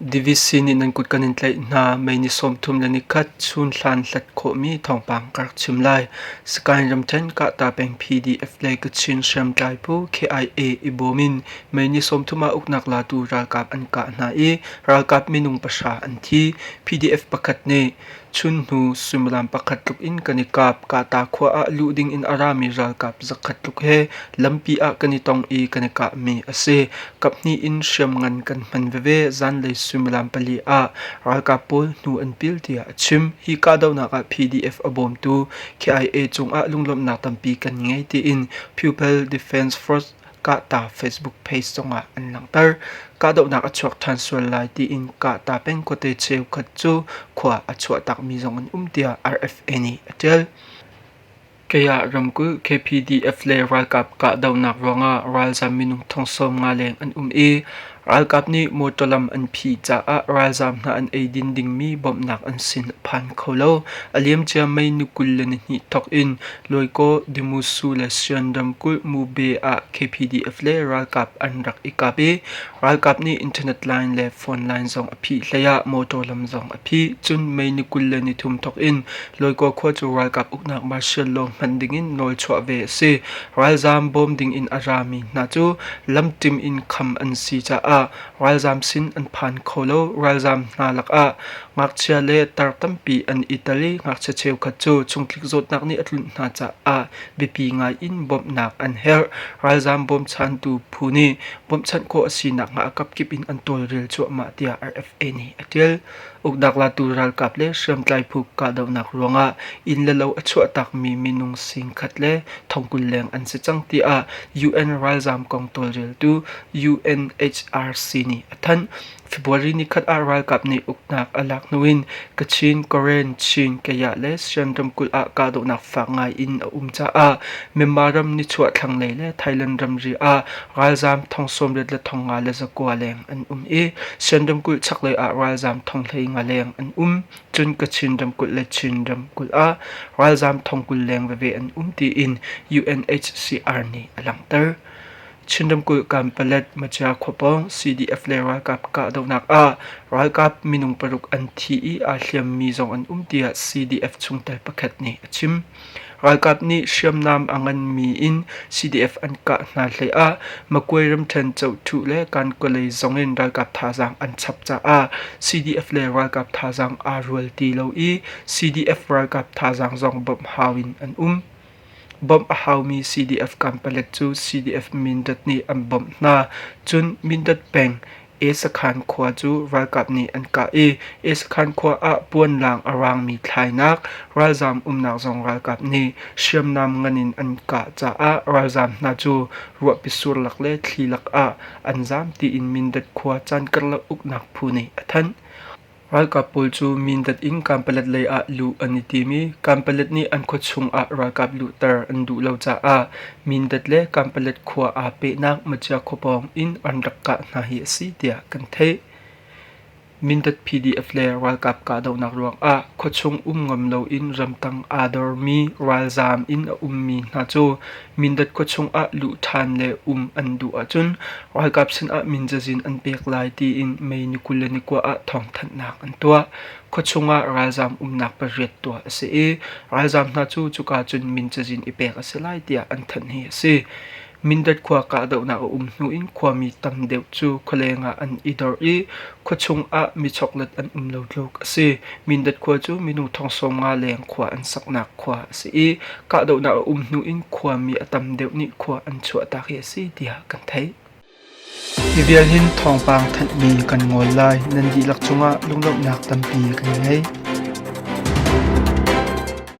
Divisi nih nan kut kan in tlaih hna. Mei ni sawmthum le ni khat chun hlan hlat khawhmi thawngpang ka rak chim lai. Sagaing ramthen Kahta peng PDF le Kachin hriamtlai pu KIA i bawm in mei ni sawmthum ah uknak latu ralkap an kah hna i ralkap minung pahra an thi. PDF pakhat nih Chun hnu suimilam pakhat tluk in kan i kap. Kahta khua ah luh ding in a rami ralkap zakhat tluk he lampi ah kan i tong i kan i kahmi a si. Kaphnih in hriamngan kan hman veve zanlei suimilam pali ah ralkap pawl hnu an pil tiah a chim. Hi kahdohnak ah PDF a bawmtu KIA cungah lunglawmhnak tampi kan ngei tiin Pupil Defence Force Kahta Facebook page zongah an langhter. Kahdohnak a chuak ṭhan sual lai tiin Kahta pengkawte cheukhat cu khua a chuahtakmi zong an um tiah RFA nih a ṭial. Kaya ramkulh KPDF le ralkap kahdohnak ruangah ralzam minung thong sawm nga leng an um i Ralkap nih motor lam an phih caah ralzaam hna an eidin dingmi bawmhnak an sin a phan kho lo. A liamcia May ni kul le ni hnih thawk in Loikaw, Demusu le Sian ramkulh Mube ah KPDF le ralkap an rak i kap i ralkap nih internet line le phone line zong a phih hlei ah motor lam zong a phih. Cun May ni kul le ni thum thawk in Loikaw khua cu ralkap uknak martial law hman dingin nawl chuah ve a si. Ralzaam bawm dingin a rami hna cu lamtim in kham an si caah ralzaam sin an phan kho lo. Ralzaam hna lakah ngakchia le tar tampi an i tel i ngakchia cheukhat cu chungtlik zawtnak nih a tlunh hna caah biapi ngai in bawmhnak an herh. Ralzaam bawmchantu phu nih bawmhchanh khawh a si nakhnga a kapkip in an tawlrel cuahmah tiah RFA nih a ṭial. Uknak latu ralkap le hriamtlai phu kahdohnak ruangah inn le lo a chuahtakmi minung singkhat le thongkul leng an si cang tiah UN ralzaam kong tawlreltu UNHRC nih a thanh. February ni khat ah ralkap nih uknak a lak hnu in Kachin, Karen, Chin, Kayah le Sian ramkulh ah kahdohnak fak ngai in a um caah Myanmar ram nichuah thlanglei le Thailand ramri ah ralzaam thong sawm riat le thong nga le zakua leng an um i Shan ramkulh chaklei ah ralzaam thong hlei nga leng an um. Cun Kachin ramkulh le Chin ramkulh ah ralzaam thong kul leng veve an um tiin UNHCR nih a langhter. Chin ramkulh Kanpalet Machia khuapawng CDF le ralkap kahdohnak ah ralkap minung paruk an thi i aa hliammi zong an um tiah CDF chungtel pakhat nih a chim. Ralkap nih hriamnam a nganmi in CDF an kah hna hleiah Magway ramṭhen Chohthu le Kankaawlei zong in ralkap thazaang an chap caah CDF le ralkap thazaang aa rual ti lo i CDF ralkap thazaang zong bawmh hau in an um. Bawmh a haumi CDF kampalet cu CDF Mindat nih an bawmh hna, cun Mindat peng Esakhan khua cu ralkap nih an kah i Esakhan khua ah puanlaang a raangmi thlainak ralzaam umnak zong ralkap nih hriamnam ngan in an kah caah ralzaam hna cu ruahpi surlak le thli lak ah an zaam tiin Mindat khua caan karlak uknak phu nih a thanh. Ralkap pawl cu Mindat in Kanpalet lei ah luh an i tim i Kanpalet nih an khua chung ah ralkap luhter an duh lo caah Mindat le Kanpalet khua aa pehnak Machia khua pawng in an rak kah hna hi a si tiah kan theih. Mindat PDF le ralkap kahdohnak ruangah khua chung um ngam loin ramtang aa dormi ralzaam in a ummi hna cu Mindat khua chungah luh ṭhan le um an duh ahcun ralkap sinah minzazin an pek lai tiin May ni kul le ni kua ah thawngthanhnak an tuah. Khua chungah ralzaam umnak pariat tuah a si i ralzaam hna cu cuka cun minzazin i pek a si lai tiah an thanh hi a si. Mindat khua kahdohnak a um hnu in khuami tam deuh cu khualeng ah an i dor i Khuachung ah michoklat an um lo tluk a si. Mindat khua cu minu thong sawm nga leng khua an saknak khua a si i kahdohnak a um hnu in khuami a tam deuh nih khua an chuahtak hi a si tiah kan theih. Hi vial hin thawngpang thanhmi kan ngol lai nan dihlak cungah lunglawmhnak tampi kan ngei.